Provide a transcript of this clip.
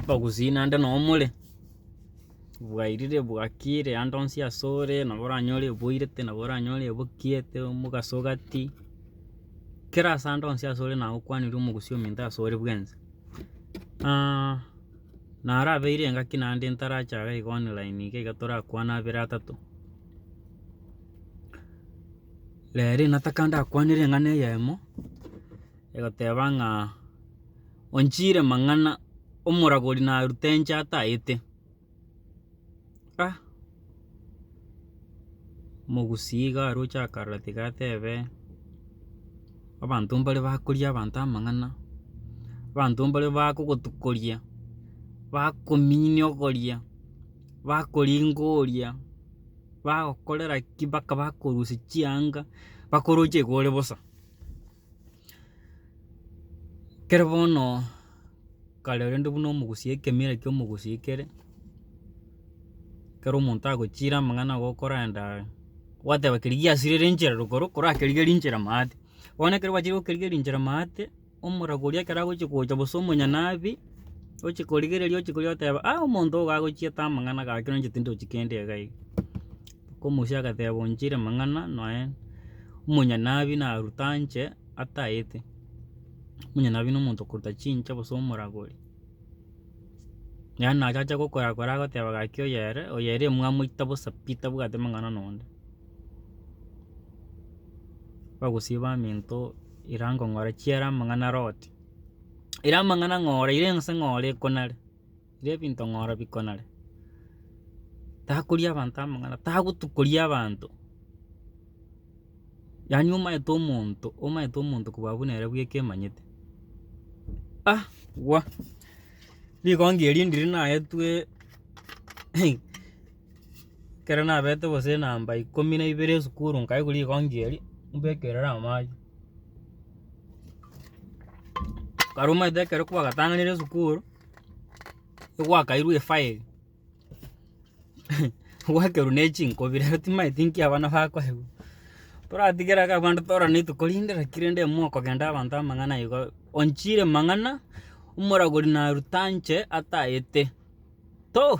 Abagusii naende nabo more, bwairire bwakiire ande onsi ase ore nabo oranyore oboirete nabo oranyore obokiete omogaso ogati, kera ase ande onsi ase ore naye okwanire omogusii ominto ase ore bwensi. naro abeire engaki naende ntarache iga iga online iga iga torakwane abere atato. Rero nataka ndakwanere eng'ana eyemo. Egoteba ng'a, Onchiire mang'ana, omoragori narute inche atayete. Ah, omogusii iga aroche akarora tiga atebe, abanto mbare bakoria abanto amang'ana, abanto mbare bakogotukoria, bakominia ogoria, bakoringa oria, bagokorera ki, mpaka bakorusia chianga, bakoroche iga ore bosa. Kere bono kare rende buna omogusia ekemera kia omogusia ekere, ekero omonto agochire amang'ana igo okorenda gwateba keria giasire rinchera rogoro korakerigia rinchera maate. Bono ekero gwachire gokerigia rinchera maate, omorabu oria ekero agochia gocha gose omonyene abe, oche korigereria oche koria oteba omonto oyo gagochiete amang'ana gaki onye inche tindochi kende iga iga. Omochie agateeba, Onchiire amang'ana, nonya omonyanabi narute anche ataete. Omonyanabi na omonto okoruta chinche gose omoragori. Yaani naye achache gokorakora agoteeba gaki oyere, oyere mwamoita bosa pi tabwati amang'ana nonde. Bagosiba amento ira nkong'ora chiera amang'ana are oti. Ira amang'ana ng'ora ira ense ng'ora ekonare. Riria ebinto ng'ora bikonare, takoria abanto amang'ana, tagotukoria abanto, yaani omanyete omonto omanyete omonto koba abwo nere bweka emanyete ah gwa. Rigongi erio ndiri naetwe ekero nabete gose namba ikomi na ibere esukuru nkaigwa rigongi erio mbeke erere amache. Kare omanyete ekero kwagatang'anire esukuru. egwakairwe efile gwakerwa ne chinkobi rero timanyeti nki abana bakoigwa. Toratigere iga abande torane tokorinde naki rende imwe okogenda abanto amang'ana igo onchire mang'ana omoragori naruta nche atagete to.